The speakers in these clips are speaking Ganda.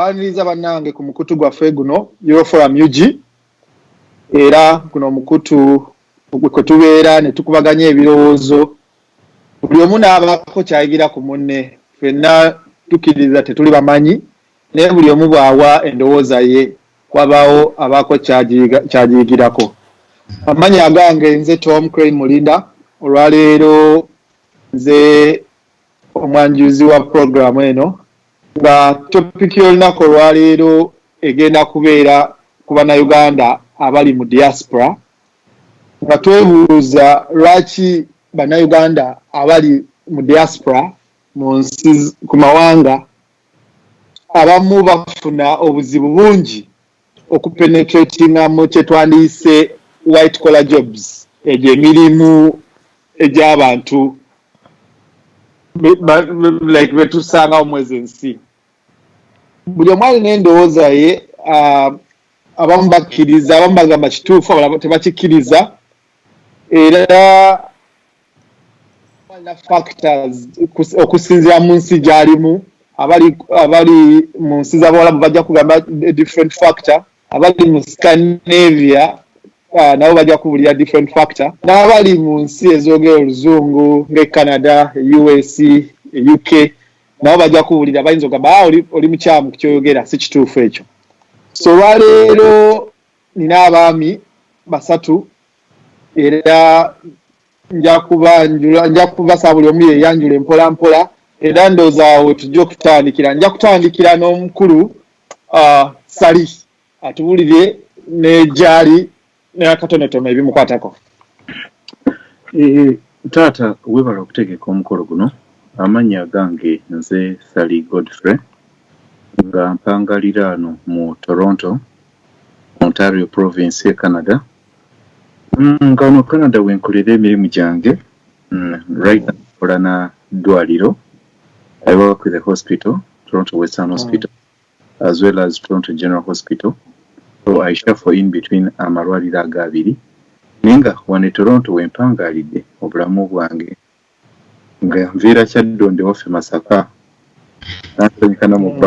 baniriza bannange ku mukutu gwaffe guno euroforum ug era guno omukutu kwe tubeera ne tukubaganya ebirowoozo buli omu n'abaako kyayigira ku munne fenna tukkiriza tetuli bamanyi Naye buli omu bw'awa endowooza ye wabaawo abaako ky'agiyigirako. Amannya agange nze Tom Crane Mulinda. Olwaleero nze omwanjuzi wa pulogulaamu eno nga topiki y'olunaku olwaleero egenda kubeera ku Bannayuganda abali mu Diaspora nga twebuuza lwaki Bannayuganda abali mu Diaspora ku mawanga abamu bafuna obuzibu bungi okupenetratinga mu kyetwandiyise white collar jobs egyo emirimu egy'abantu like betusangawo mwezi ensi buli omu alina endowooza ye ah, abamu bakkiriza abamu bagamba kituufu abalala tebakikkiriza era factors kus- okusinziira mu nsi gy'alimu abali abali mu nsi z'abawalabu bajja kugamba a different factor abali mu scandinavia ah, nabo bajja kubulira different factor n'abali mu nsi ezoogera oluzungu ng'e canada e us e uk nabo bajja kubulira bayinza ogamba "Ah, oli, oli mukyamu ku kyoyogera si kituufu ekyo so olwaleero nina abaami basatu era nja kubanjula nja kubasa buli omu yeyanjule mpola mpola era ndooza awo tujja okutandikira nja kutandikira n'omukulu uh, sali atubulire negyali nakatonotono ebimukwatako eh, taata webala okutegeka omukolo guno amannya gange nze sali godfrey nga mpangalira ano mu toronto ontario province e canada Mm, nga wano Canada wenkolera emirimu gyange. Mm, right now nkola na ddwaliro. I work with the hospital, Toronto Western mm. Hospital, mm. as well as Toronto General Hospital. So I shuffle in between amalwaliro aga abiri. Naye nga wano e Toronto wempangaalidde obulamu bwange. Nga nviira kyaddondo waffe Masaka. Nansanyika na mu mm.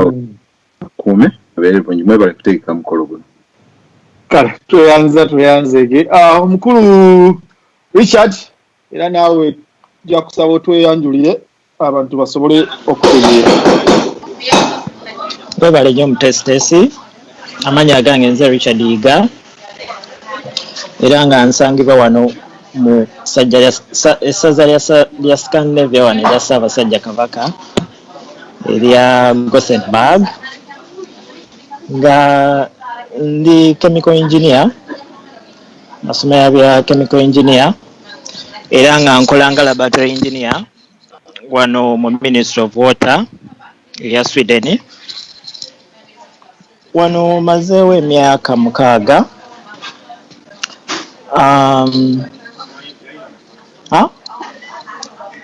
akuume abeere bulungi mwebale kutegeka mukolo guno kale tweyanza tweyanzege ah, omukulu richard era naawe ja kusaba otweyanjulire abantu basobole okutegeera webale nyo omutesitesi amanya agange nze richard yiga era nga nsangibwa wano mu essaza lya scandinavia wano erya ssaabasajja kabaka erya Gothenburg nga ndi chemical engineer nasomera bya chemical engineer era nga nkola nga laboratory engineer wano mu ministry of water eya Sweden. Wano mazeewo emyaka mukaaga um, ah,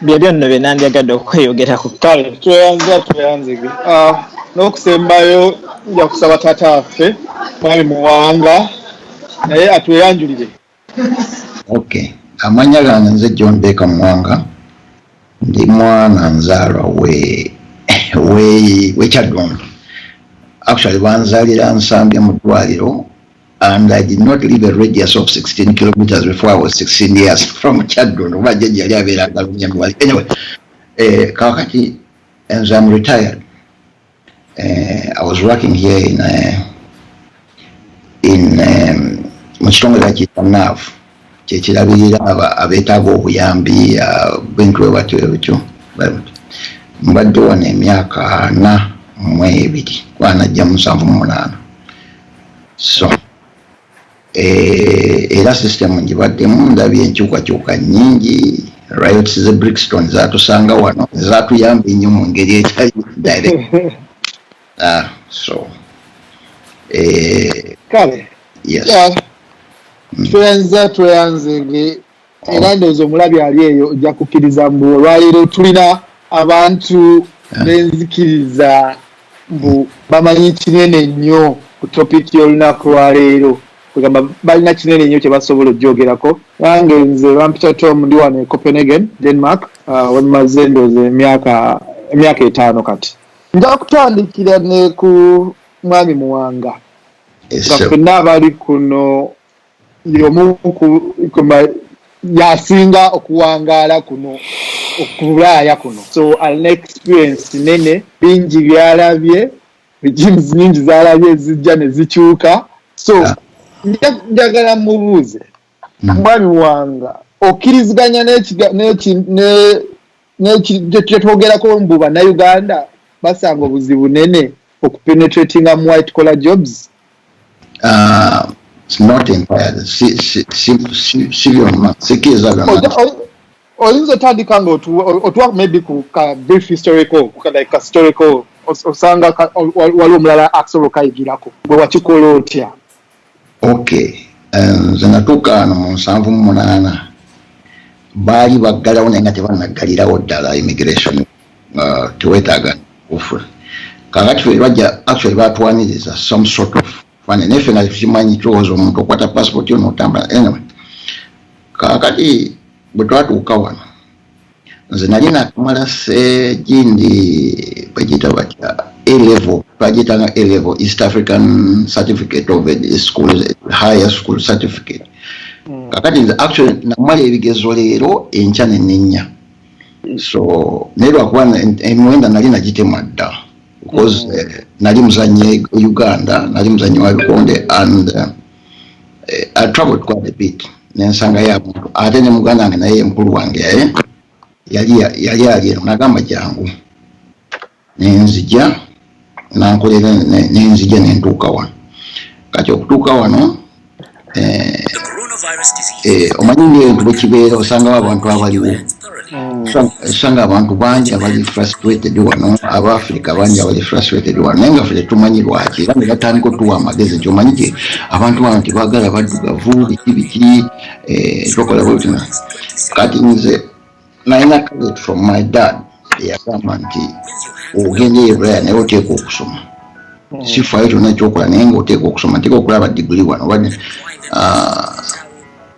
byebyo nno bye nandyagadde okweyogerako kale tweyanza tweyanzege uh, n'okusembayo nja kusaba taata waffe mwami muwanga naye atweyanjulire Ok amanya gange nze John Baker Mwanga ndi mwana nzalwa we we we kyadondo actually banzalira nsambya mu ddwaliro and I did not leave a radius of 16 kilometers before I was 16 years from Chadron oba jajja yali abeera agalumya anyway eh, kakati and I'm retired Uh, I was working here in, uh, in um, mu kitongole bakiyita nav kyekirabirira abeetaaga obuyambi uh, bintu bwe batyo ebityo mbadde wano emyaka ana mu ebiri kuba najja musanvu mu munaana so Eh, era system njibaddemu ndabye enkyukakyuka nyingi riots ze brixton zatusanga wano zatuyamba ennyo mu ngeri etali direct ah, so eh, kale yes. yeah. tweyanza tweyanzenge era ndowooza omulabi ali eyo ojja kukkiriza mbu olwaleero tulina abantu benzikiriza mbu bamanyi kinene nnyo ku topiki y'olunaku lwaleero kwegamba balina kinene nnyo kyebasobola okugyogerako nange nze bampita tom ndi wano e copenhagen denmark uh, wemaze ndowooza emyaka emyaka etaano kati nja kutandikira ne ku mwami muwanga nga fenna abali kuno y'omu yasinga okuwangaala kuno okubulaaya kuno so alina experience nene bingi byalabye regimes nyingi zalabye ezijja ne zikyuka so njagala mubuuze hmm. mwami wanga okkiriziganya n'ekiga n'eki ne kyetwogerako mbu banauganda basanga obuzibu nene okupenetratinga mu white collar jobs ah, oyinza otandika nga otuwa maybe ku ka brief historical like ka historical osanga waliwo omulala asobola okayigirako bwe wakikola otya Okay nze natuuka wano mu nsanvu mu munaana baali baggalawo naye nga tebanaggalirawo ddala immigration uh, tewetaaga kufula kakati fe bajja actually batwaniriza some sort of fane naye fe nga tukimanyi tulowooza omuntu okwata passport yo notambula anyway kakati bwe twatuuka wano nze nali nakamala ffe gindi bagiyita batya elevo bagiyitanga elevo east african certificate of school higher school certificate hmm. kakati nze actually namala ebigezo leero enkya nenenya so naye lwakuba emiwenda nali nagitemwa dda because hmm. eh, nali muzanye uganda nali muzanye wa bikonde and uh, eh, I traveled quite a bit nensanga ya muntu ate ne muganda wange naye mukulu wange yaye yali yali ali eno nagamba jangu nenzija nankolera nenzija nentuuka wano kati okutuuka wano eh, eh, omanyi ngaebintu bwekibeera osangawo abantu abaliwo esanga mm. abantu bangi abali frustrated wano aba africa bangi abali frustrated wano naye nga fe tetumanyi lwaki era ne batandika otuwa amagezi nti omanyi ti abantu bano tebagala baddugavu biki biki eh, tokola bwetina kati nze nalina credit from my dad eyagamba nti ogenda eyo bulaya naye oteeka okusoma mm. sifayo kyona ekyokola naye nga oteeka okusoma nteeka okulaba diguli wano ah,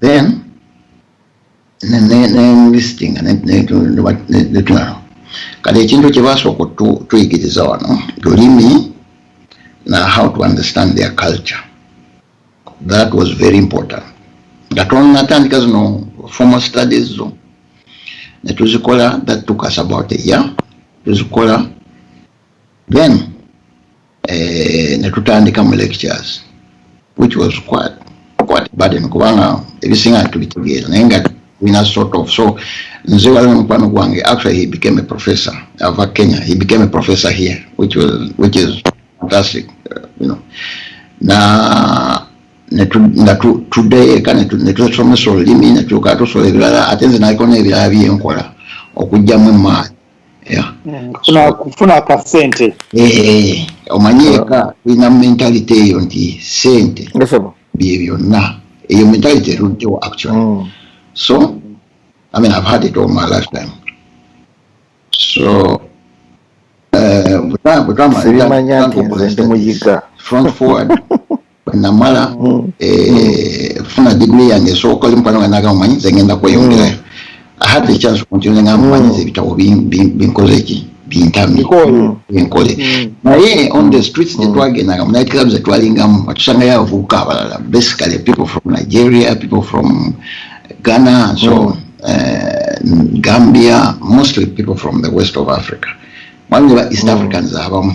then nemulistinga netulaba kati ekintu kyebasooka tuyigiriza wano lulimi na how to understand their culture that was very important nga tonatandika zino formal studies zo netuzikola that took us about a year tuzikola then eh, ne tutandika mu lectures which was quite quite burden kubanga ebisinga tubitegeera naye nga tulina sort of so nze waliwo omukwano gwange actually he became a professor ava kenya he became a professor here which was which is fantastic uh, you know na nga tuddeyo eka netusomesa olulimi netuuka tusobola ebirala ate nze naliko n'ebirala byenkola okugyamu emaani kufuna akasente eh, eh, omanyi eka tulina mentality eyo nti sente bye byonna eyo mentality eruddewo actually mm. so i mean i've had it all my lifetime so eh, bwetwamaliza front forward namala mm. eh, funa digiri yange esooka oli mukwano nga naga mumanyi nze ngenda kweyongerayo mm. ahadde ekyansi kunti nze nga mumanyi nze ebitabo binkoze ki bintamye enkole mm. naye on the streets gyetwagendanga mu night club zetwalingamu atusangayo abavubuka abalala basically people from nigeria people from ghana so eh, gambia mostly people from the west of africa mwami ne ba east africans abamu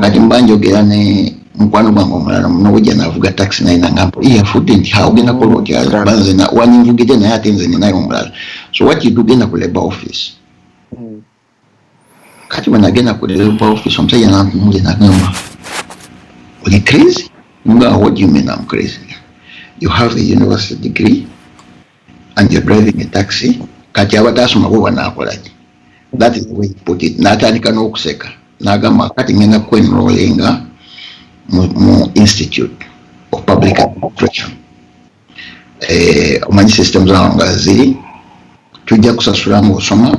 kati mba njogera ne mukwano gwange omulala munobujja navuga taxi naye nangambo yafudde nti ha ogenda kola otya kuba nze waninvugidde naye ate nze ninayo omulala so what you do genda ku labor office kati bwe nagenda ku labor office omusajja nantunulye nagamba oli crazy nga what do you mean I'm crazy you have a university degree and you're driving a taxi kati abadde asoma bwoba nakolaki that is the way he put it natandika n'okuseka nagamba kati ngenda kwenrolinga mu, mu institute of public administration eh, omanyi system zawo nga ziri tujja kusasula ngaosoma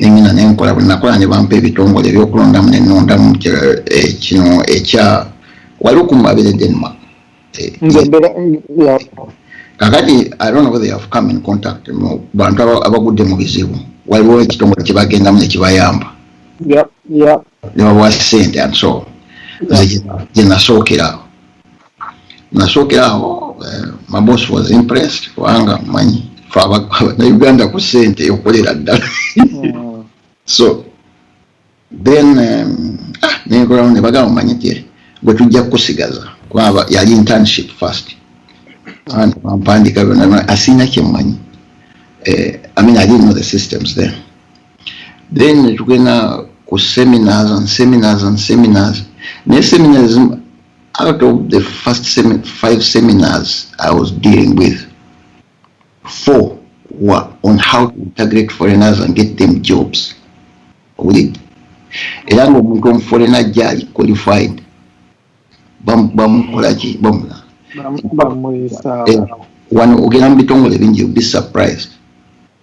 ne ngenda ne nkola bwe nakola ne bampa ebitongole eby'okulondamu ne nnondamu eh, kino ekya waliwo ku mabere denma eh, kakati i don't know whether you have come in contact mu bantu abagudde mu bizibu waliwo ekitongole kye bagendamu ne kibayamba ne babawa sente and so nze gye nasookera nasookera awo eh, my boss was impressed kubanga manyi fe abanauganda ku sente eyokolera ddala hmm. so then um, ah, nenkolawo ne bagamba manyi ti gwe tujja kukusigaza kubanga yali internship first and bampandika byona asiina kyemanyi eh, i mean i didn't know the systems there then netugenda ku seminars and seminars and seminars naye seminars out of the first semi five seminars i was dealing with four were on how to integrate foreigners and get them jobs owulidde era ngaomuntu omuforena ajja qualified bamukolaki bamula wano ogenda mu bitongole bingi be surprised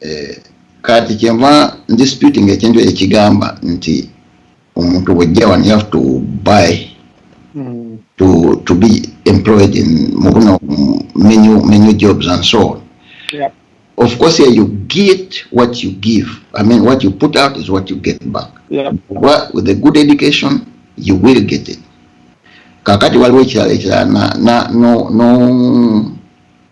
eh, kati kyenva disputing ekintu ekigamba nti omuntu bwojja wano you have to buy mm. to, to be employed in mubuno menu, menu jobs and so on yeah. of course yeah, you get what you give i mean what you put out is what you get back yeah. with a good education you will get it kakati waliwo ekirala ekirala no, no, no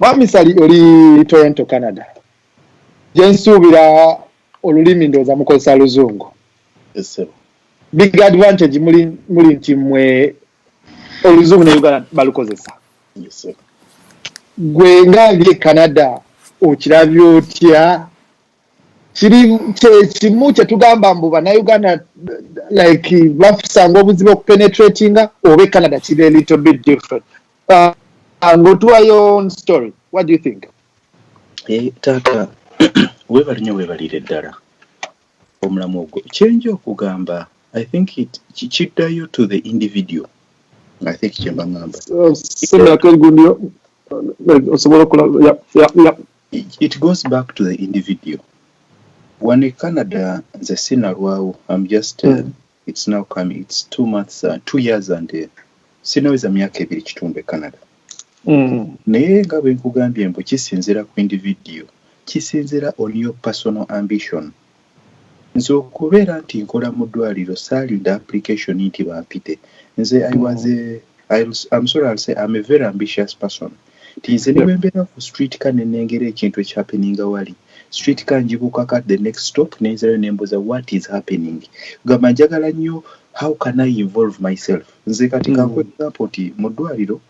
Mwami Sali oli Toronto, Canada. Gye nsuubira olulimi ndowooza mukozesa luzungu. Big advantage muli, muli nti mwe oluzungu ne Uganda balukozesa. Gwe nga ndi e Canada okirabye otya? Kiri kyekimu kye tugamba mbu bannayuganda like bafusanga obuzibu okupenetratinga oba e Canada kiri a little bit different. uh, and go to your own story what do you think eh, taata webale nyo webalire ddala omulamu ogwo kyenja okugamba i think kiddayo to the individual i think kyemba ngamba it goes back to the individual one in canada nze sinalwawo am just uh, mm. It's now coming. It's two months, uh, two years and uh, sinaweza myaka ebiri kitundu e Canada. Mm. Naye nga bwe nkugambye mbu kisinzira ku individual, kisinzira on your personal ambition. Mm. nze okubeera nti nkola mu ddwaliro saalinda application nti bampite nze i was a, I, I'm sorry I'll say I'm a very ambitious person mm. nti nze nebwembeera ku street car nenengera ekintu eki happeninga wali street car njibukaka the next stop nenzirayo nembuza what is happening kugamba njagala nnyo how can I involve myself nze kati kankuwe example nti mu ddwaliro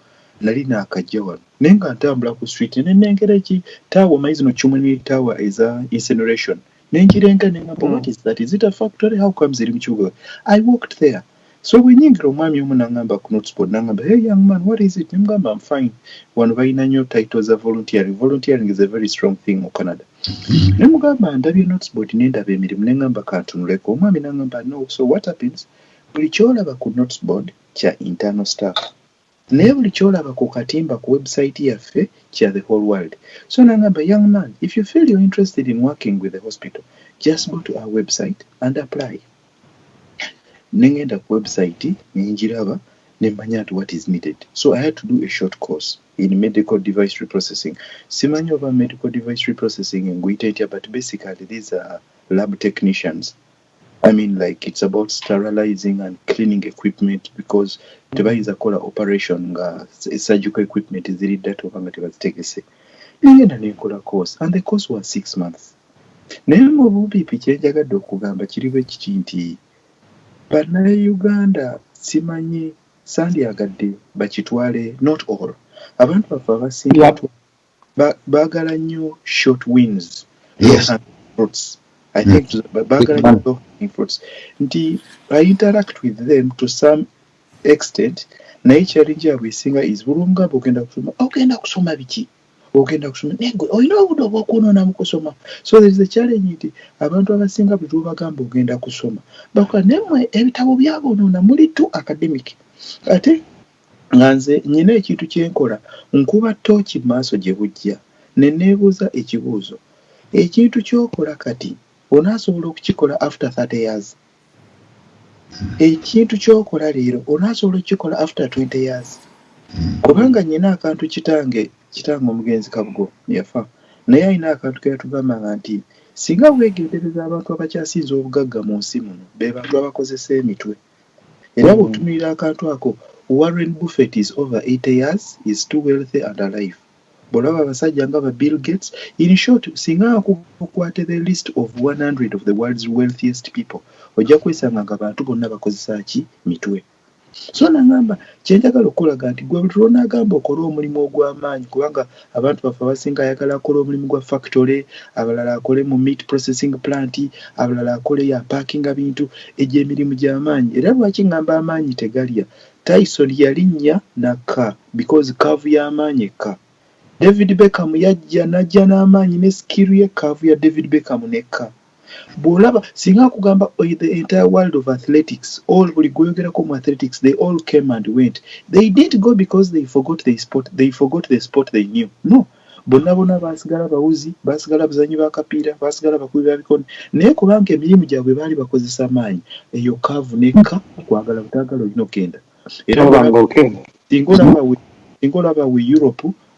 nali nakajja wano naye nga ntambula ku street nenengera eki tower omanyi zino chumni tower eza insinuration nenjirenga nengamba what is that is it a factory how comes eri mukibuga I walked there so bwenyingira omwami omu nangamba knutsport nangamba hey young man what is it nemugamba am fine wano balina nyo title za volunteering volunteering is a very strong thing mu Canada nemugamba ndabye knutsport nendaba emirimu nengamba kantunuleko omwami nangamba no so what happens buli kyolaba ku knutsport kya internal staff Naye buli kyolaba ku katimba ku website yaffe kya the whole world so nangamba young man if you feel you're interested in working with the hospital just go to our website and apply nengenda ku website nenjiraba nemmanya nti what is needed so I had to do a short course in medical device reprocessing simanyi oba medical device reprocessing nguyita etya but basically these are lab technicians I mean like it's about sterilizing and cleaning equipment because mm. tebayinza kola operation nga surgical equipment ziri data oba nga tebazitegese nengenda nenkola course and the course was six months naye mu bubipi kyenjagadde okugamba kiri bwe kiti nti bannayuganda simanyi sandyagadde bakitwale not all abantu baffe abasinga Ba- baagala nnyo short wins low Yes. hanging fruits i think to- ba- baagala nnyo low hanging fruits nti i interact with them to some extent naye challenge yabwe esinga is buli omu gamba ogenda kusoma ogenda kusoma biki ogenda kusoma naye gwe olina obudde obwokunoona mu kusoma so there is a challenge nti abantu abasinga buli lwobagamba ogenda kusoma bakola naye mwe ebitabo byabonoona muli tu academic ate Nga nze nnina ekintu kye nkola, nkuba ttooci mu maaso gye bujja, ne nneebuuza ekibuuzo, Ekintu ky'okola kati, onaasobola okukikola after thirty years? Ekintu ky'okola leero, onaasobola okukikola after twenty years? Kubanga nnina akantu kitange, kitange omugenzi Kabugo yafa, naye alina akantu ke yatugambanga nti, Singa weegendereza abantu abakyasinze obugagga mu nsi muno, be bantu abakozesa emitwe. Era bwotunulira akantu ako Warren Buffet is over 80 years is too wealthy and alive bwolaba abasajja nga ba Bill Gates in short singa okwate the list of 100 of the world's wealthiest people ojja kwesanga nga bantu bonna bakozesa ki mitwe so nangamba kyenjagala okukulaga nti gwe buli lwonagamba okole omulimu ogwamaanyi kubanga Abantu baffe abasinga ayagala akole omulimu gwa factory, abalala akole mu meat processing plant, abalala akole ya packinga bintu. Egyo emirimu gya maanyi era lwaki ngamba amaanyi tegalya. Tyson yalinnya n'akka because curve ya maanyi ekka. David Beckham yajja n'ajja n'amaanyi ne skill ye curve ya David Beckham n'ekka. Bwolaba singa nkugamba the entire world of athletics all buli gwoyogerako mu athletics they all came and went they didn't go because they forgot they sport they forgot the sport they knew no bonna bona baasigala bawuzi baasigala bzanyi ba kapiira baasigala bakubi ba bikoni naye kubanga emirimu gyabwe baali bakozesa maanyi eyo kaavu nekka kwagala butaagala olina okugenda era singa olaba we singa olaba we europe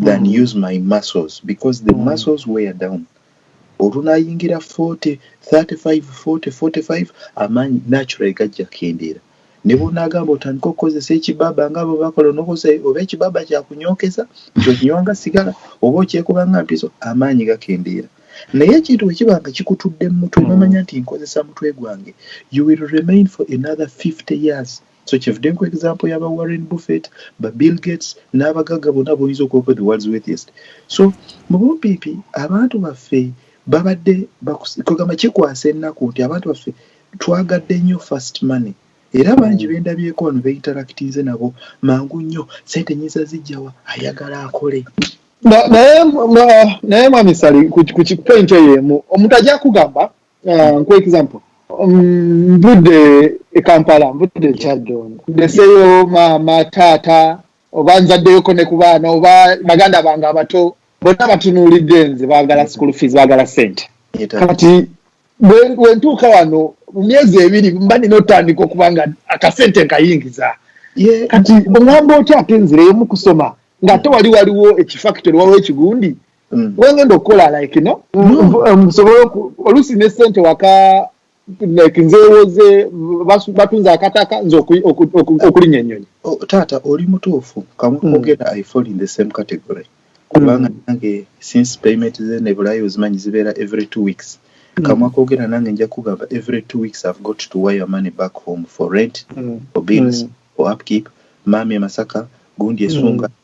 than mm. use my muscles because the mm. muscles wear down olunayingira 40 35 40 45 amaanyi natural gajja kendeera ne bwonagamba otandika okukozesa ekibaba nga abo bakola nokozesa oba ekibaba kyakunyokeza nti okinywanga sigala oba okyekubanga mpiso amaanyi gakendeera naye ekintu bwekiba nga kikutudde mu mutwe nomanya nti nkozesa mutwe gwange you will remain for another 50 years mm. So kyevude nkuwa example ya ba Warren Buffett, ba Bill Gates n'abagagga bonna boyinza okuwako the world's wealthiest. So mu bumpipi abantu baffe babadde kwegamba kikwasa ennaku nti abantu baffe twagadde nnyo first money era mm. bangi bendabyeko wano beinteractinze nabo mangu nnyo sente nyinza zijjawa ayagala akole naye mwami sali ku point eyo emu omuntu ajja kugamba uh, nkuwa example mm, nvudde e kampala nvudde ekyaddondo ndeseyo maama taata oba nzaddeyoko ne ku baana oba baganda bange abato bonna batunuulidde nze baagala school fees baagala sente kati wentuuka wano mu myezi ebiri mba nina otandika okuba nga akasente nkayingiza kati oŋamba otya ate nzireyomu kusoma ng'ate wali waliwo ekifactory waliwo ekigundi mm. wengenda okukola like no mm. um, nsobola oluusi ne sente waka like nzewoze batunza akataka nze okulinya enyonyi oh, taata oli mutuufu kamukugenda mm. i fall in the same category kubanga mm. nange since payment ze nebulayo zimanyi zibeera every two weeks mm. kamwa kogera nange nja kugamba every two weeks i've got to wire money back home for rent mm. for bills mm. for upkeep mami emasaka gundi esunga mm.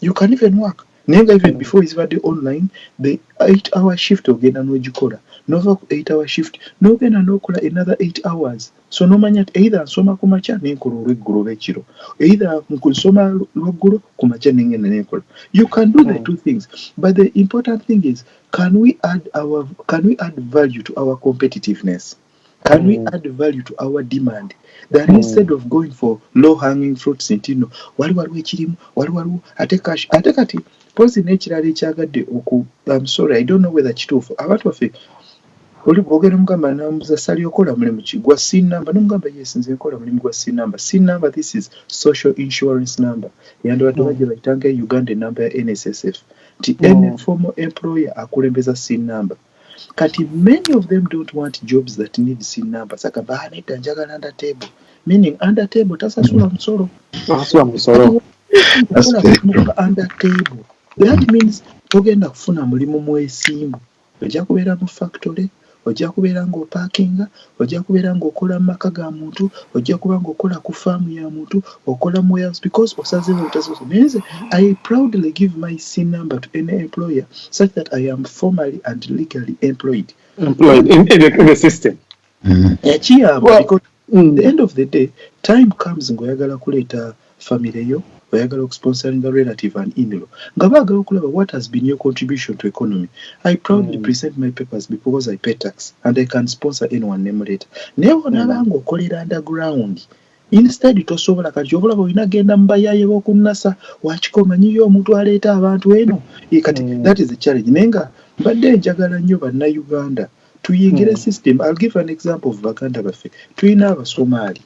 You can even work naye nga even before ezibadde online the 8 hour shift ogenda nogikola nova ku 8 hour shift nogenda nokola another 8 hours so nomanya nti either nsoma kumakya nenkola olweggulo oba ekiro either nsoma lwaggulo kumakya nengenda nenkola you can do the hmm. two things but the important thing is can we add our can we add value to our competitiveness Can we mm. add value to our demand that mm. instead of going for low hanging fruits nti no wali waliwo ekirimu wali waliwo ate cash ate kati pozi n'ekirala ekyagadde oku am sorry i don't know whether kituufu abantu baffe oli bwogera mugamba namuza sali okola mulimu ki gwa c number nomugamba yes nze nkola mulimu gwa c number c number this is social insurance number yandibadde mm. bagye bayitanga e uganda enumber ya nssf nti mm. any formal employer akulembeza c number Kati many of them don't want jobs that need sin number saka banedda njagala under table meaning under table tasasula musolo tasasula musolo under table that means togenda kufuna mulimu mwesimbu ojja kubeera mu factory ojja kubeera ng'opakinga Ojja kubeera nga okola mu maka ga muntu, ojja kuba nga okola ku farm ya muntu, okola mu warehouse because osazeewo obutasobola naye nze I proudly give my SIN number to any employer such that I am formally and legally employed. Employed in, in, the, in the system. Mm. Yakiyamba because mm. the end of the day time comes ngoyagala kuleeta family yo, oyagala okusponsoringa relative and inlaw nga bagala okulaba what has been your contribution to economy, I proudly present my papers bcause I pay tax and I can sponsor anyone nemuleeta naye bwonaba nga okolera under ground instead tosobola kati kyova olaba olina genda mubayaye bokunasa wakika omanyiyo omuntu aleeta abantu eno kati mm. that is a challenge naye nga mbadde njagala nnyo bannauganda tuyingire mm. system I'll give an example of baganda baffe tulina abasomaali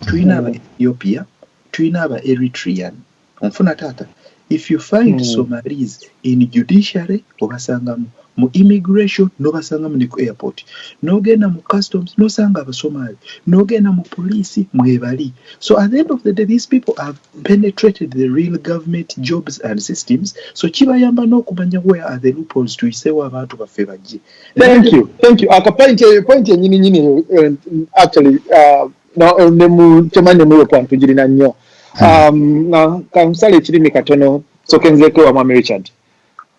tulina aba ethiopia tulina aba eritrean onfuna taata if you find mm. somalis in judiciary obasangamu mu immigration nobasangamu ne ku airport nogenda mu customs nosanga abasomali nogenda mu police mwebali so at the end of the day these people have penetrated the real government jobs and systems so kibayamba n'okumanya where are the loopholes tuyiseewo abantu baffe bajje thank you thank you aka point eyo eh, point enyini nyini eh, actually uh, no ne mu chama ne mu kwa ntujiri na nyo hmm. um na kamsale chiri mikatono so kenze ko wa mama richard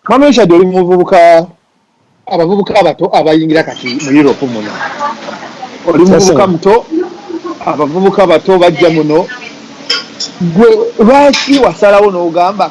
mama richard oli muvubuka abavubuka abato abayingira kati mu europe muno oli muvubuka muto abavubuka bato bajja muno gwe lwaki wasalawo n'ogamba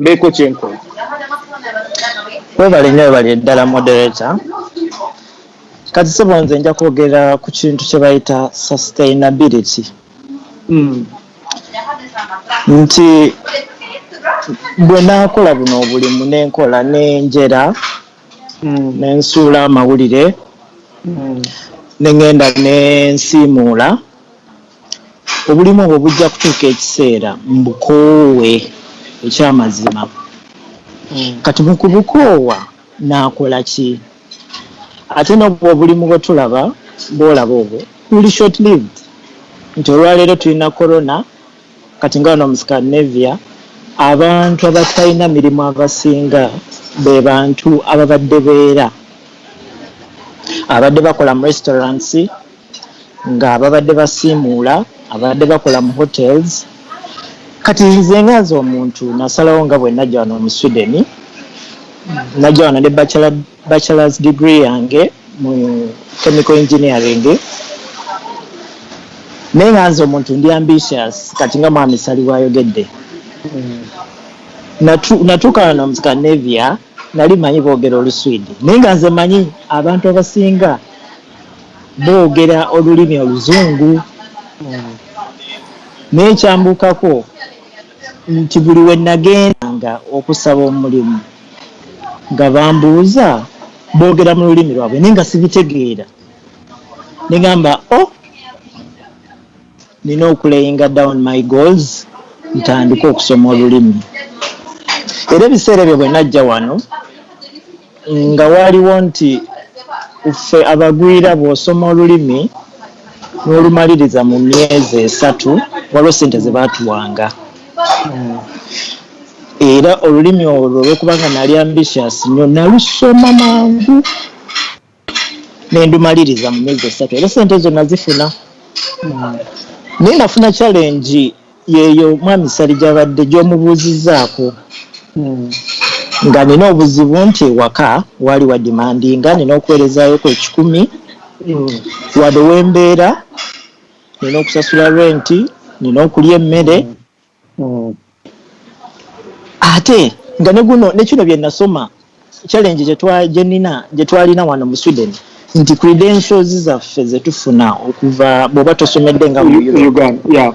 mbeeko kye nkola. Weebale nnyo weebale ddala moderator. Kati ssebo nze nja kwogera ku kintu kye bayita sustainability. Hmm. Nti bwe naakola buno obulimu ne nkola ne njera hmm. ne nsuula amawulire hmm. ne ŋŋenda ne nsiimuula. Obulimu obwo bujja kutuuka ekiseera mbukoowe eky'amazima. Kati mu kubukoowa nnaakola ki? Ate n'obwo obulimu bwe tulaba, bw'olaba obwo, buli short-lived. Nti olwaleero tulina Corona, kati nga wano mu Scandinavia, abantu abatalina mirimu abasinga be bantu ababadde beera, ababadde bakola mu restaurants, nga babadde basiimuula ababadde bakola mu hotels kati nze nga nze omuntu nasalawo nga bwenajja wano mu Sweden najja wano ne bachelors degree yange mu chemical engineering naye nga nze omuntu ndi ambitious kati nga mwami sali bwayogedde natuuka wano mu Scandinavia nali manyi boogera oluswidi naye nga nze manyi abantu abasinga boogera olulimi oluzungu naye kyambuukako nti buli we nagendanga okusaba omulimu nga bambuuza boogera mu lulimi lwabwe naye nga sibitegeera ne ŋŋamba oh. Nina okulayinga down my goals ntandike okusoma olulimi era ebiseera ebyo bwenajja wano nga waaliwo nti ffe abagwira bwosoma olulimi nolumaliriza mu myezi esatu waliwo sente zebatuwanga era olulimi olwo olwokubanga nali ambitious nyo nalusoma mangu. ne ndumaliriza mu myezi esatu era ssente ezo nazifuna. Naye nafuna challenge yeeyo Mwami Ssali gy'abadde gy'omubuuzizzaako nga nina obuzibu nti ewaka waali wadimandinga nina okuweerezaayoko ekikumi wadde we mbeera, nina okusasula renti, nina okulya emmere. mm. ate nga ne guno ne kino bye nasoma challenge gye twa gye nina gye twalina wano mu Sweden nti credentials zaffe ze tufuna okuva bw'oba tosomedde nga mu Uganda yeah.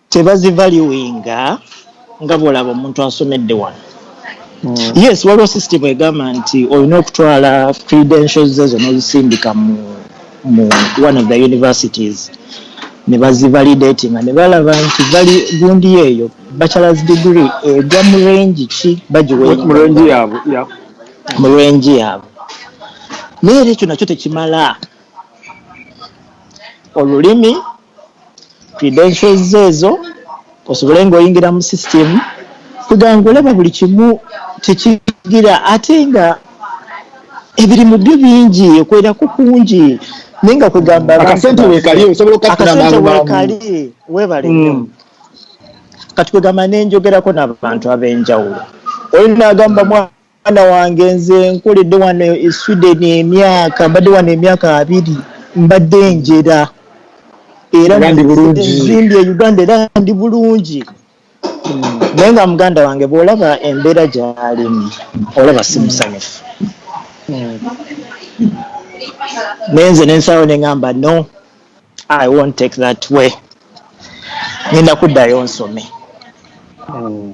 tebazivaluinga nga bw'olaba omuntu asomedde wano mm. yes waliwo system egamba nti olina okutwala credentials ezo n'ozisindika mu mu one of the universities ne bazivalidatinga ne balaba nti bali gundi eyo bachelors degree egwa mu range ki bagiwemurenji yaabwe mu range yaabwe naye era ekyo nakyo tekimala olulimi credentials zo ezo osobole nga oyingira mu system kuga nga olaba buli kimu tekigira ate nga ebirimu byo bingi okwerako kungi naye nga kwegamba akasente wekali osobola okakali webale mm. kati kwegamba nenjogerako nabantu abenjawulo oli nagamba mwa Mwana wange nze nkoledde wano e Sweden emyaka mbadde wano emyaka abiri mbadde njera era nzimbye e Uganda era ndi bulungi hmm. naye nga muganda wange bw'olaba embeera gy'alimu olaba si musanyufu hmm. naye nze nensaawo ne ŋamba no I won't take that way. Ngenda kuddayo nsome. Mm.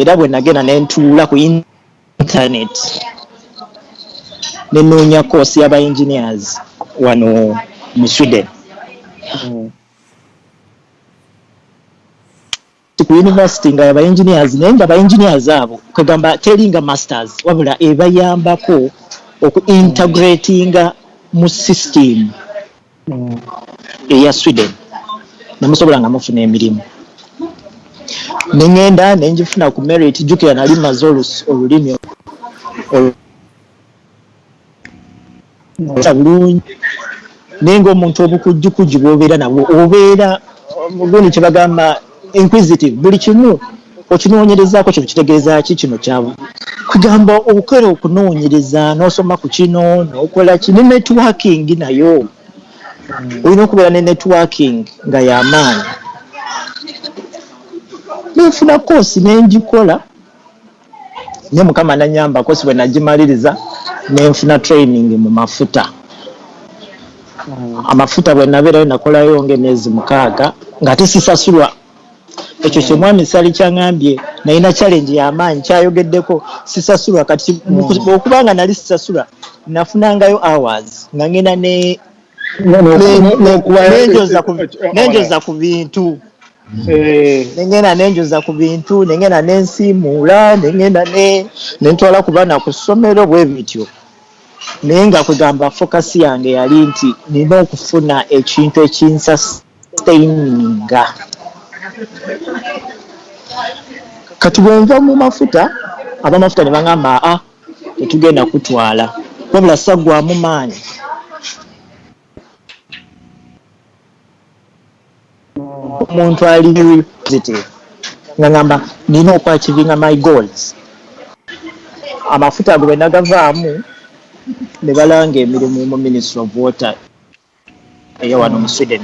Era bwe nagenda ne ntuula ku internet ne noonya course y'aba engineers wano mu Sweden. Mm. ku university nga yaba engineers naye nga ba engineers abo kwegamba telinga masters wabula ebayambako oku integratinga mu system eya sweden nemusobola nga mufuna emirimu nengenda nenjifuna ku merit jukira nali maze olulimi nga bulungi naye ngaomuntu obukujjukujju bwobeera nabwo obeera gundi kyebagamba inquisitive buli kimu okinoonyerezaako kino kitegeeza ki kino kyabu kugamba okera okunoonyereza n'osoma ku kino n'okola ki ne networking nayo hmm. olina okubeera ne networking nga y'amaanyi nenfuna koosi nengikola naye mukama nanyamba kosi bwenagimaliriza nenfuna training mu mafuta amafuta bwenabeerayo nakolayo nga emyezi mukaaga ngate sisasulwa ekyo kyemwami sali kyangambye nalina challenge yamaanyi kyayogeddeko sisasulwa kati okubanga nali sisasula nafunangayo hours nga ngenda ne nenjoza ku bintu eh. nengenda nenjoza ku bintu nengenda nensiimuula nengenda nentwala ku baana ku ssomero bwe bityo naye nga kugamba fokasi yange yali nti nina okufuna ekintu ekinsasa Steininga. Kati bwe nva mu mafuta, ab'amafuta ne baŋŋamba, Aa, tetugenda kukutwala. Wabula ssaggwaamu maanyi. Omuntu ali very positive. Nga ŋŋamba, Nnina okwachivinga my goals. Amafuta ago bwe nnagavaamu, ne balanga emirimu mu Ministry of Water. eyawano mu Sweden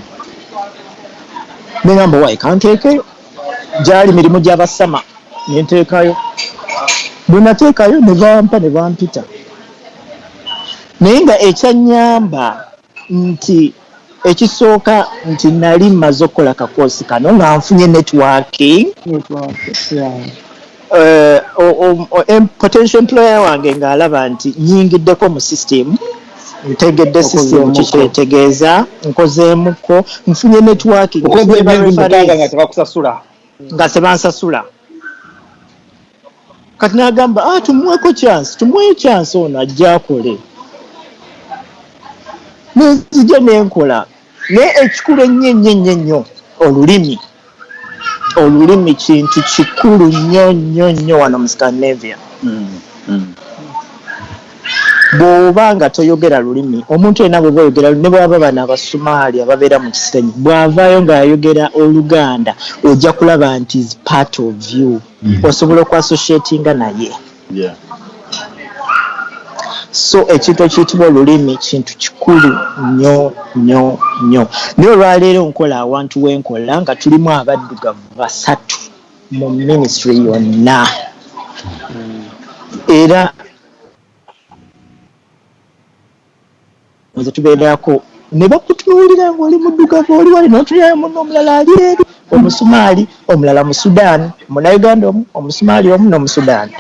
nengamba owaye kanteekeyo gyali mirimu gya ba Sama nenteekayo bwenateekayo nebampa nebampita naye nga ekyanyamba nti ekisooka nti nali maze okukola kakoosi kano nga nfunye networking eh, potential employer wange ng'alaba nti nyingiddeko mu system ntegedde system kikyetegeeza nkozeemuko nfunye networking nga tebansasula kati nagamba ah, tumuweko chance tumuwe chance ono ajja akole nenzija nenkola naye ekikulu ennyo ennyo ennyo ennyo olulimi olulimi kintu kikulu nnyo nnyo nnyo wano mu scandinavia mm, mm. bw'oba nga toyogera lulimi omuntu yena bweba oyogera ne bwaba bana abasumaali ababeera mu kisenyi bw'avaayo ng'ayogera oluganda ojja kulaba nti is part of you mm. osobola okwasociatinga naye So ekintu ekiyitibwa olulimi kintu kikulu nnyo nnyo nnyo. Naye olwaleero nkola awantu wenkola nga tulimu abaddugavu basatu mu ministry yonna era Nze tugenderako ne bakutunuulira ng'oli muddugavu oli wali n'otunulira munno omulala ali eri, Omusumaali, omulala Musudaani, Munnayuganda omu, Omusumaali omu n'Omusudaani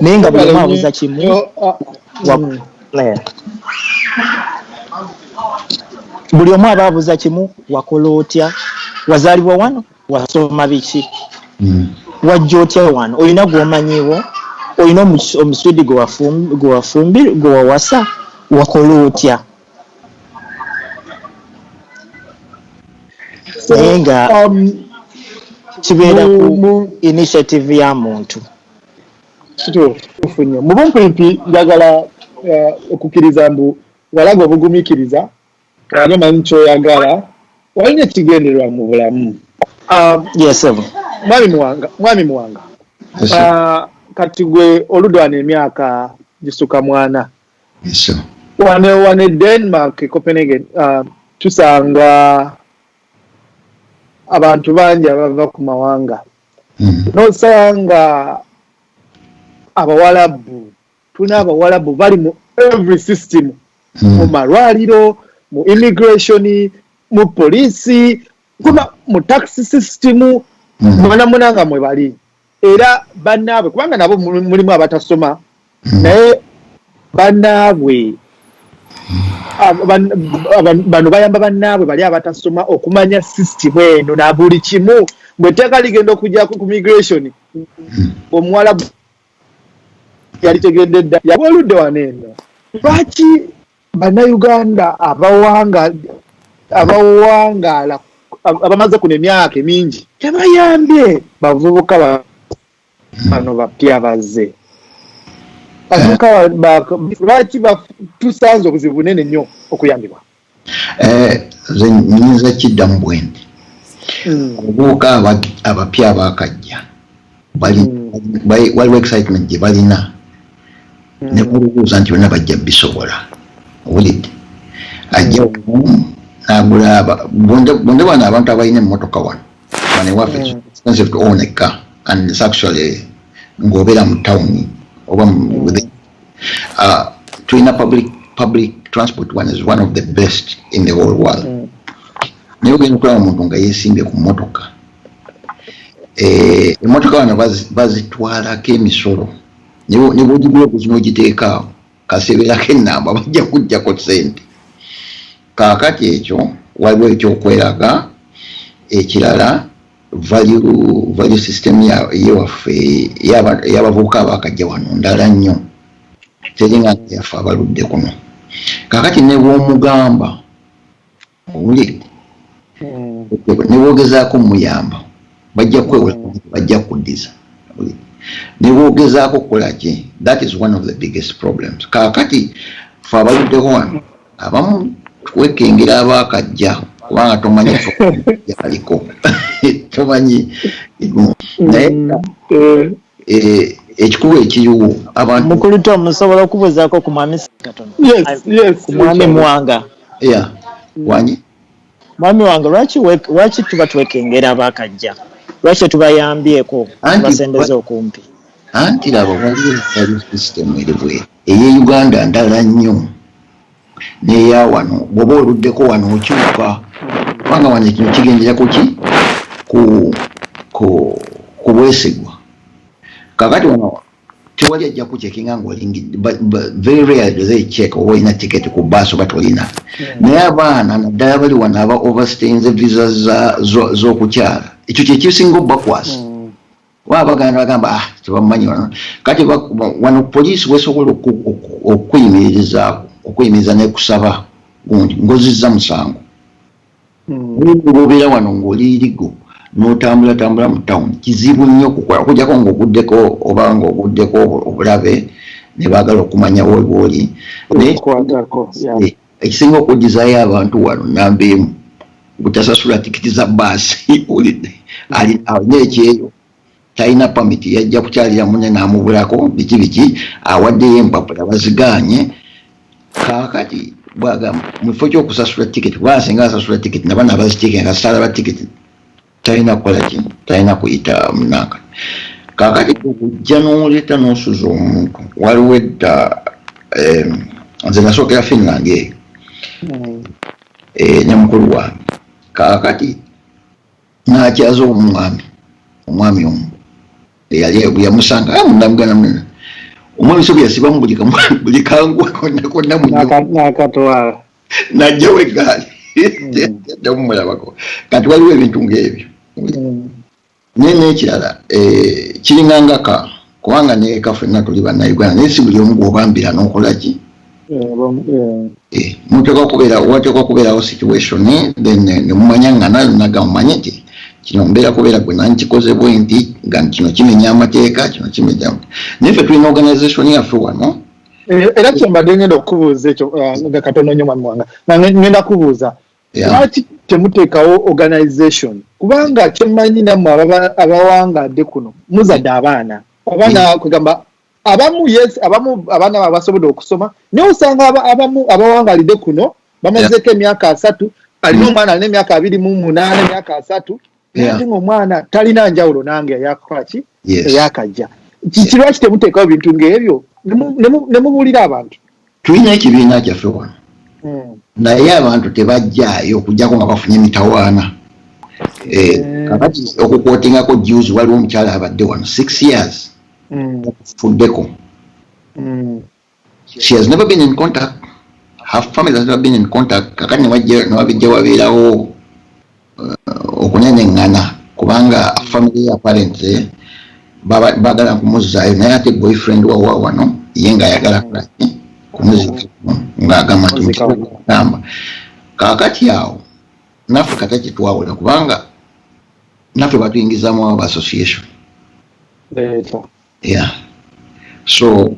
naye nga buli omu abuuza kimu buli omu aba abuuza kimu, wakola otya? Wazaalibwa wano? wasoma biki mm. wajja otya wano olina gwomanyiwo olina omuswidi gwewafumbi gwewawasa wakola otya naye nga um, kibeera ku initiative ya muntu kituufu nnyo mu bumpimpi njagala uh, okukkiriza mbu walaga obugumikiriza ate omanyi kyoyagala walina ekigendererwa mu bulamu ah, yesebo mwami muwanga mwami muwanga ah, kati gwe oludwana emyaka gisuka mwana wano wano e denmark e copenhagen ah, tusanga abantu bangi abava ku mawanga hmm. nosanga abawalabu tuna abawalabu bali mu every system hmm. mu malwaliro mu immigration mu poliisi kuba mu taxi system hmm. mwanamuna nga mwe bali era banaabwe kubanga nabo mulimu abatasoma hmm. naye banaabwe bano bayamba banaabwe bali abatasoma okumanya system eno na buli kimu bwe tteeka ligenda okujjako ku migration omuwalabu yalitegedde dda yaba oludde wano eno lwaki bannayuganda abawangaala abamaze kuno emyaka emingi tebayambye bavubuka bano bapya bazze avubuka lwaki tusanze obuzibu bunene nnyo okuyambibwa Eh, nze nyinza kiddamu bwendi hmm. obuuka abapya abakajja hmm. waliwo excitement gye balina hmm. ne balubuuza nti bona bajja bisobola owulidde ajja nagula bonde bano abantu abalina emmotoka wano banewaffe expensive to own a car and it's actually ng'obeera mu tawuni oba Ah, tulina public public transport one is one of the best in the whole world mm. naye ogenda okulaba omuntu nga yesimbye ku mmotoka eh, emmotoka bano bazitwalako emisolo ne bwogigula okuzi n'ogiteekaawo kaseberako enamba bajja kujjako sente kaakati ekyo waliwo ekyokweraga ekirala value value system ya ye waffe yaba yabavuka abakajja wano ndala nnyo telinga yafa abaludde kuno kakati ne bwomugamba uli hmm. ne bwogezaako muyamba bajja kwewola hmm. bajja kuddiza ne bwogezaako okukola ki that is one of the biggest problems kakati fe abaluddeko wano abamu kwekengera abaakajja kubanga tomanyi yaliko tomanyi naye mm, eh. Eh, ekikuba ekiyiwo abantu mukulu to musobola okubuuzaako ku mwami ku mwami mwanga ya wanyi mwami wange lwaki lwaki tuba twekengera abaakajja lwaki tubayambyeko basembeza okumpi anti laba waliyo system eri bweti Eye Uganda ndala nnyo neya wano bwoba oluddeko wano okyuka kubanga wano ekino kigendera kuki ku ku kubwesigwa kakati wano tewali ajja kucekinga ngaolingidde very rare do they check oba olina ticket ku bus oba tolina hmm. naye abaana naddala bali wano aba overstainze visa zokukyala ekyo kyekisinga obakwasa hmm. Waba baganda bagamba ah tebamumanyi wano kati wano poliisi wesobola okukuyimirizaako okuyimiriza nekusaba gundi ngozizza musango hmm. obeera wano ng'oli irigo n'otambula tambula mu tawuni kizibu nnyo okukola okujjako ng'oguddeko oba ng'oguddeko obulabe ne baagala okumanya webwoli ekisinga okujjizaayo abantu wano namba emu butasasula tikiti za baasi olidde alina ekyeyo talina pamiti yajja kukyalira mune n'amubulako biki biki awaddeyo empapula bazigaanye kaakati bwagamba mu kifo ky'okusasula tikiti bwasinga asasula tikiti nabana abazitiika nga sala ba tikiti talina kukola kimu talina kuyita munanga kakati okujja noleta nosuza omuntu waliwo edda nze nasookera finland eyo hmm. eh, ne mukulu wange kakati nakyaza omwami omwami omu eyali yamusanga ah, munamugana munene omwami sobyasibamu buli kangwa konna konna munyo najjawo eggaali jamumulabako kati waliwo ebintu ngaebyo naye nekirala eh, kiringa ngaka kubanga neka fenna tuli banauganda naye si buli omu gwobambira nokolaki muteekwa kubeera wateekwa kubeerawo situation then eh, nemumanya nga nayo naga mumanye nti kino mbeera kubeera gwe nani kikoze bwe nti nga kino kimenya amateeka kino kimenya naye fe tulina organization yaffe wano Eh, era kyembadde ngenda okubuuza ekyo eh, nga katono nyo mwami wanga nga ngenda kubuuza lwaki temuteekawo organization kubanga kyemmanyi nammwe abawangadde kuno muzadde abaana oba nakugamba abamu yes abamu abaana ba basobodde okusoma naye osanga abamu abawangalidde kuno bamazeeko emyaka asatu alina omwana alina emyaka abiri mu munaana emyaka asatu yeah. nange omwana talina njawulo nange eyakukola ki yes. eyakajja kiki lwaki temuteekawo bintu ngaebyo nemubuulira abantu tulina ekibiina kyaffe wano hmm. naye abantu tebajjaayo okujjako nga bafunye emitawaana eh, hmm. kakati okukwotingako juzi waliwo omukyala abadde wano six years hmm. okufuddeko She has never been in contact. Her family has never been in contact. Kakati newabijja wabeerawo uh, okunenengana kubanga family ya parents eh, bagala kumuzzayo naye ate boyfriend wawa wano ye nga ayagala kulaki kumuzika ng'agamba ntiamba kakati awo naffe kata kitwawula kubanga naffe batuyingizamu abo ba association yeah so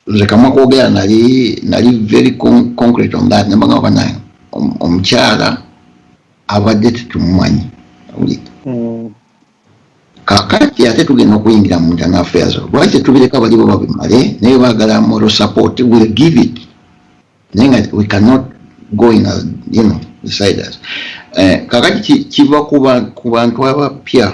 nze kamwa kwogera nali nali very concrete on that namba ngamba banaye omukyala abadde tetumumanyi mm. kakati ate tugenda okuyingira mu internal affairs lwaki tetubireka balibo babimale naye bagala moral support will give it naye nga we cannot go in as you know deciders eh, kakati kiva ku bantu abapya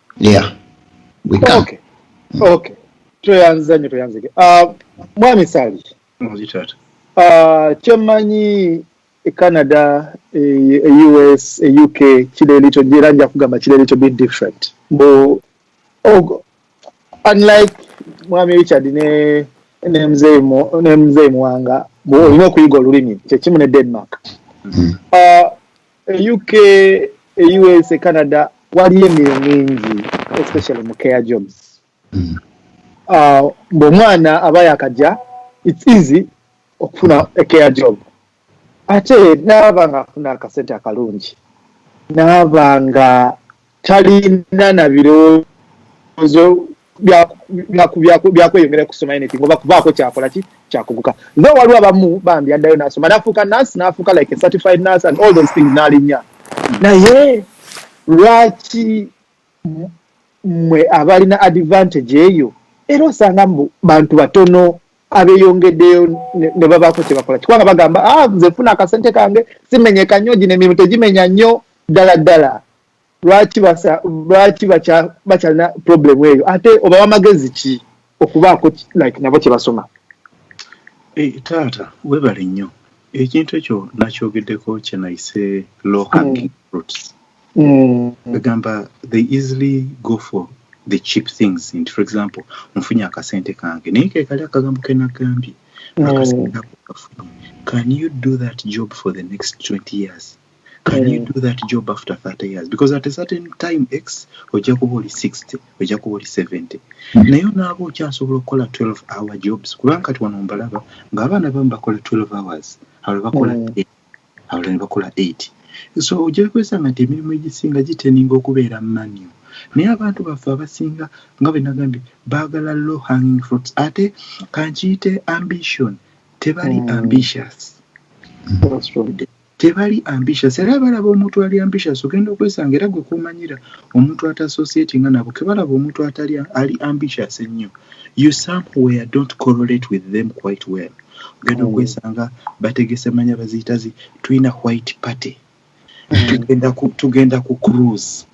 yeah we come okay okay tweyanziza nnyo tweyanzike uh, mwami sali muzitata uh, kyemanyi e canada e, e us e uk kiri little era nja kugamba kiri little bit different mbu oh, unlike mwami richard ne ne mzee muwanga olina okuyiga olulimi kyekimu ne denmark mm. uh, e uk e us e canada waliyo emirimu mingi especially mu care jobs mm. uh, ngaomwana aba yakaja its easy okufuna a care job ate naaba nga afuna akasente akalungi naaba nga talina na birowoozo byakweyongera kusoma anything oba kubaako kyakola ki kyakuguka tho waliwo abamu bambi addayo nasoma nafuuka nurse nafuuka like a certified nurse and all those things nalinya naye lwaki mwe abalina advantage eyo era osanga mbu bantu batono abeyongeddeyo ne babaako kye bakola kikubanga bagamba ah, nze funa akasente kange simenyeka nnyo gino emirimu tegimenya nnyo ddala ddala lwaki basa lwaki bacha bacha na problem eyo ate oba wamagezi ki okubaako like nabo kye basoma e, taata webale nnyo ekintu ekyo nakyogeddeko kyenayise low hanging mm. fruits egamba mm. they easily go for the cheap things nti for example nfunye akasente kange naye kekali akagambo kenagambye mm. akasente ako kafunye can you do that job for the next 20 years can you do that job after 30 years because at a certain time x ojja kuba oli 60 ojja kuba oli 70 hmm. naye onaaba okyasobola okukola 12 hour jobs kubanga kati wano mbalaba ng'abaana bamu bakola 12 hours abalala bakola hmm. abalala ne bakola 8 so ojja kwesanga nti emirimu egisinga giteninga okubeera manio naye abantu baffe abasinga nga bwe nagambye baagala low hanging fruits ate kankiyite ambition tebali hmm. ambitious Tebali ambitious era balaba omuntu ali ambitious ogenda okwesanga era gwe komanyira omuntu ata associatinga nabo kebalaba omuntu atali ali ambitious ennyo you somewhere don't correlate with them quite well ogenda hmm. okwesanga bategese manya baziyitazi tulina white party tugenda ku cruise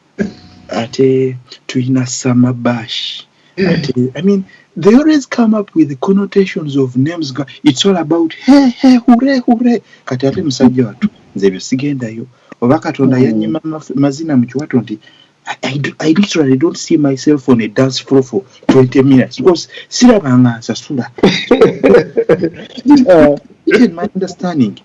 ate tulina summer bash ate i mean they always come up with the connotations of names ga it's all about he he hure hure kati ate musajja wattu nze ebyo sigendayo oba katonda mm. yanyima mazina mu kiwato nti I, I, do, I literally don't see myself on a dance floor for 20 minutes because sirabanga nsasula uh, even my understanding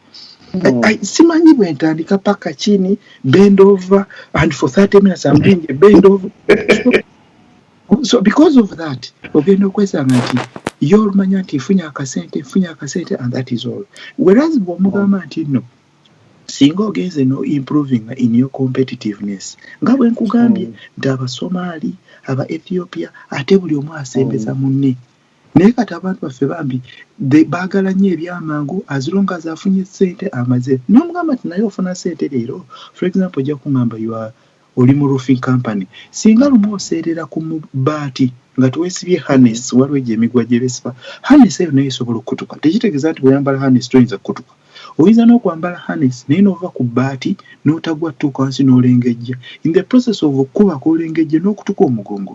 mm. I, I, simanyi bwentandika paka chini bend over and for 30 minutes I'm doing a bend over so, so because of that ogenda okwesanga nti ye olumanya nti nfunye akasente nfunye akasente and that is all whereas bwomugamba nti no singa ogenze no improving in your competitiveness nga bwe nkugambye mm. nti abasomaali aba ethiopia ate buli omu asembeza mm. munne Naye kati abantu baffe bambi bagala nnyo ebyamangu as long as afunye sente amaze nomugamba ti naye ofuna sente leero for example ojja kungamba you are oli mu roofing company singa lumu oseerera ku baati nga tewesibye harness waliwo egyo emigwa gyebesiba harness eyo naye esobola okukutuka tekitegeza nti bweyambala harness toyinza kukutuka oyinza n'okwambala harness naye n'ova ku baati n'otagwa tuuka wansi n'olengejja in the process of okukuba kwolengejja n'okutuka omugongo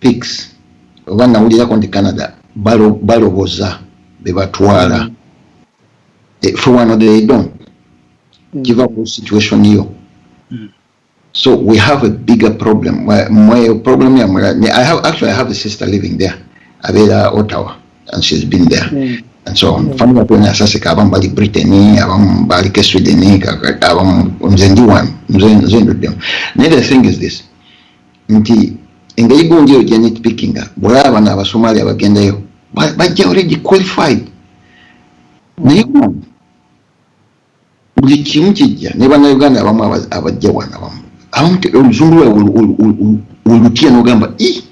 Pics oba nawulirako nti Canada baloboza bebatwala eh, fe wano they don't kiva ku situation yo so we have a bigger problem mwe problem ya mula I have actually I have a sister living there abera Ottawa and she's been there mm. and so mm. family yako na sasa ka abamu bali Britain abamu bali ke Sweden abamu mzendi one mzendi mzendi naye the thing is this nti engeri gundi eyo gyenitpikinga bwolaba bano abasomali abagendayo bajja already qualified naye buli kimu kijja ne banauganda abamu abajja wana bamu abamu oluzungu lwawe olutya nogamba i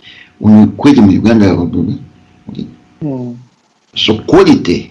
kweri mu uganda hmm. so quality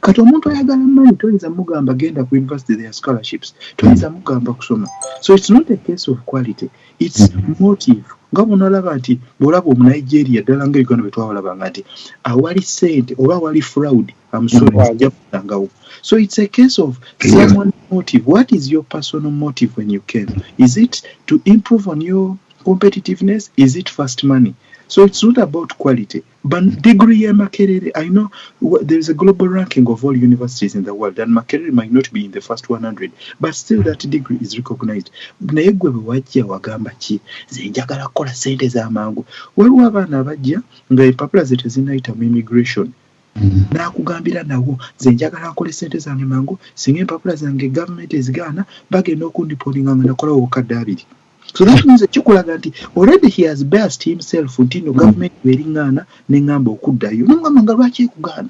Kati omuntu ayagala money toyinza mugamba genda ku university their scholarships toyinza mugamba kusoma so it's not a case of quality it's motive nga bwonalaba nti bwolaba omunigeria ddala nga uganda bwetwawalabanga nti awali sente oba awali fraud amusore mm. ajja kusangawo so it's a case of someone motive what is your personal motive when you came is it to improve on your competitiveness is it first money so it's not about quality But degree ya Makerere, I know there is a global ranking of all universities in the world, and Makerere might not be in the first 100, but still that degree is recognized. Naye gwe bwe wajja wagamba ki nze njagala kukola ssente za mangu. Waliwo abaana abajja nga empapula ze tezinnayita mu immigration mm-hmm. n'akugambira nawo nze njagala nkole ssente zange mangu singa empapula zange gavumenti ezigaana bagenda okundiponinga nga nakolawo obukadde abiri. so that means kikulaga nti already he has best himself nti no government bweringaana nengamba okuddayo nomugamba nga lwaki ekugaana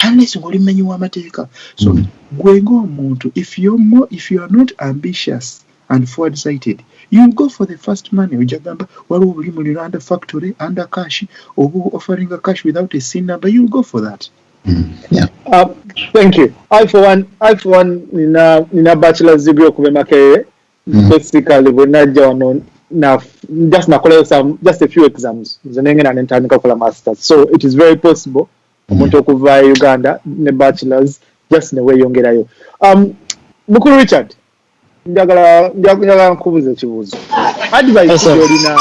unless ngoli mumenyi w'amateeka so mm. gwe ng'omuntu if you're more if you are not ambitious and forward sighted you go for the first money ojja gamba waliwo obuli mu liranda factory under cash oba offering a cash without a sin number you go for that mm. yeah. uh, thank you i for one i for one nina nina bachelor's degree okuba emakerere mm. basically bwe najja wano na just nakolayo some just a few exams nze nengenda nentandika okukola masters so it is very possible mm. omuntu mm. okuva e uganda ne bachelors just neweyongerayo um, mukulu richard njagala njagala nkubuza ekibuuzo advice gyolina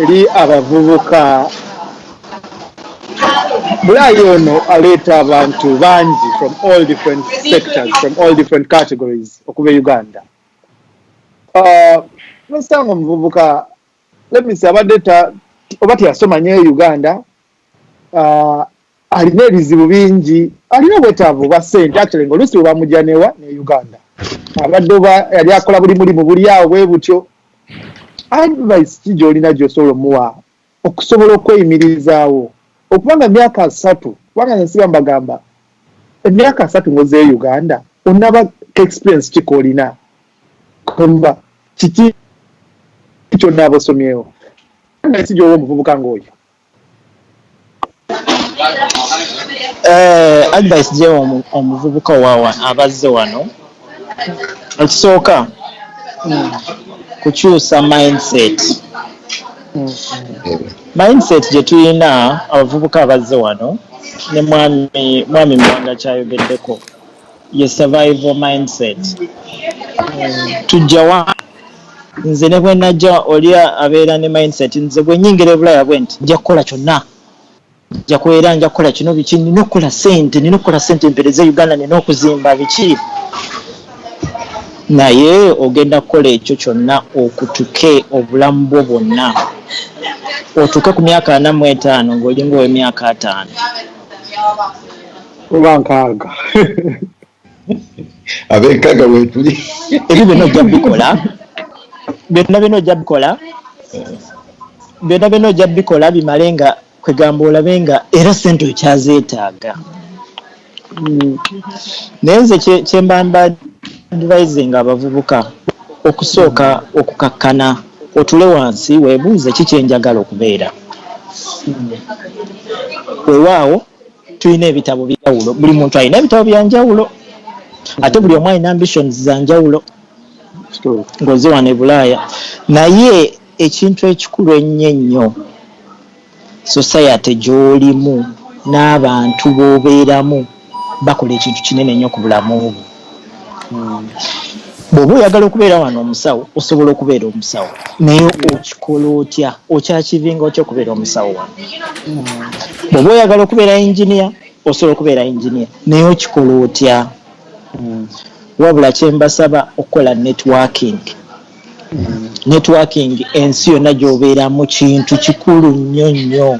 eri abavubuka bulayi ono aleeta abantu bangi from all different sectors from all different categories okuba e uganda Ah, Mister nga omuvubuka let me say abadde ta oba teyasoma nyo e Uganda ah, alina ebizibu bingi alina obwetaavu bwa sente actually nga oluusi bwebamugya newa ne Uganda abadde oba yali akola buli mulimu buli awo bwe butyo advice ki gy'olina gy'osobola omuwa okusobola okweyimirizaawo okuba nga myaka asatu kubanga nze nsiba mbagamba emyaka asatu ngozeyo uganda onaba experience kika olina kamba kiki kyonaaba osomyewo nasi gyowa omuvubuka ngaoyo Eh advice gyewa omu omuvubuka owa wa aba azze wano, ekisooka kukyusa mind set, mind set gye tuyina abavubuka abazze wano ne mwami mwami Muwanga ky'ayogeddeko. Ye survival mindset. Mm. Tujja wa? Nze ne bwe najja oli abeera ne mindset nze bwe nyingira ebulaya bwenti nja kukola kyonna nja kubeera nja kukola kino biki nina okukola sente nina okukola sente mpereze Uganda nina okuzimba biki naye ogenda kukola ekyo kyonna okutuke obulamu bwo bwonna otuuke ku myaka ana mu etaano ng'olinga ow'emyaka ataano oba nkaaga abenkaga wetuli ebyo byonna ojja bikola byonna byonna ojja bikola byonna byonna ojja bikola bimale nga kwegamba olabe nga era sente okyazeetaaga hmm. naye nze kyembamba advisinga abavubuka okusooka okukakkana otule wansi webuuze kikyenjagala okubeera hmm. wewaawo tulina ebitabo byawulo buli muntu alina ebitabo byanjawulo ate buli omu alina ambitions zanjawulo ngoze wano ebulaaya naye ekintu ekikulu ennyo ennyo society gyolimu n'abantu bobeeramu bakola ekintu kinene nnyo ku bulamu bwo bwoba oyagala okubeera wano omusawo osobola okubeera omusawo naye okikola otya okyakivinga otya okubeera omusawo wano bwoba oyagala okubeera enginia osobola okubeera enginia naye okikola otya wabula kyembasaba okukola networking Networking ensi yonna gy'obeera mu kintu kikulu nnyo nnyo.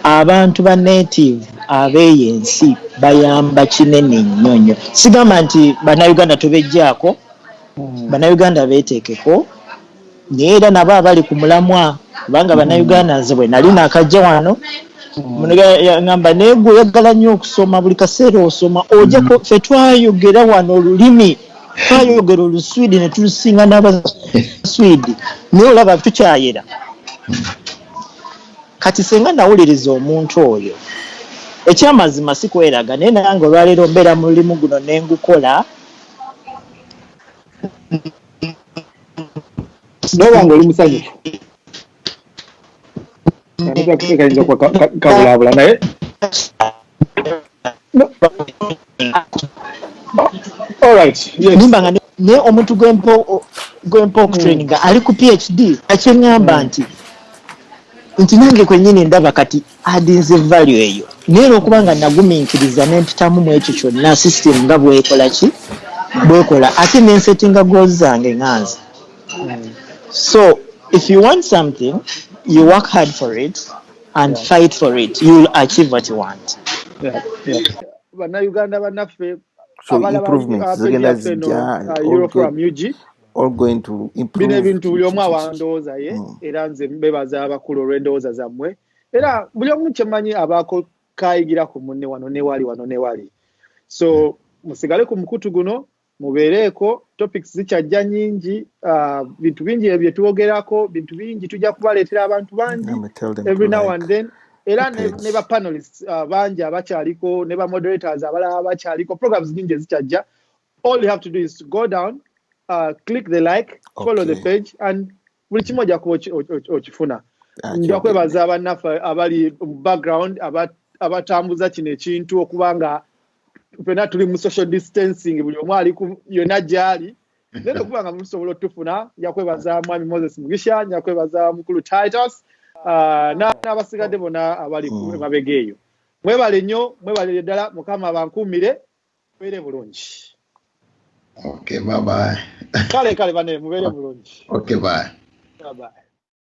Abantu ba native ab'eyo ensi bayamba kinene nnyo nnyo. Sigamba nti Bannayuganda tubeggyaako, Bannayuganda beeteekeko naye era nabo abali ku mulamwa kubanga Bannayuganda nze bwe nali naakajja wano muno yang'amba naye ggwe oyagala nnyo okusoma buli kaseera osoma ojja ffe twayogera wano olulimi twayogera oluswidi ne tulusinga n'abaswidi naye olaba tukyayera kati senga nawuliriza omuntu oyo ekyamazima sikweraga naye nange olwaleero mbeera mu lulimu guno ne ngukola naye wange oli musanyufu kayinza kuba kabulaabula naye nimba nga naye omuntu gwempa okutraining hmm. ali ku phd akyeŋamba hmm. nti nti nange kwenyini ndaba kati adinze value eyo naye lwokuba nga naguminkiriza nempitamu mu ekyo kyonna system nga bwekola ki bwekola ate nensetinga gozi zange nganze Mm. So if you want something, you work hard for it and yeah. fight for it. You'll achieve what you want. Yeah. Yeah. bannayuganda bannaffe bino ebintu buli omu awandowooza ye mm. era nze bebaza abakulu olw'endowooza zammwe era buli omu kyemanyi abaako kayigira ku munne wano newali wano newali so musigale ku mukutu guno mubeereeko topics zikyajja nyingi uh, bintu bingi ebyo byetwogerako bintu bingi tujja kubaleetera abantu bangi every now like. and then era ne, ne ba panelists uh, bangi abakyaliko ne ba moderators abalala abakyaliko programs nyingi ezikyajja all you have to do is to go down uh, click the like okay. follow the page and buli kimu ojja kuba okifuna ah, nja kwebaza abannaffe abali mu background abatambuza kino ekintu okuba nga fena tuli mu social distancing buli omu ali yonna gyali naye nokuba nga musobola otufuna nja kwebaza mwami moses mugisha nja kwebaza mukulu titus ah, n'abasigadde bona abali mm. emabega eyo mwebale nnyo mwebale ddala mukama bankuumire mubeere bulungi okay bye bye kale kale bane mubeere bulungi okay bye bye bye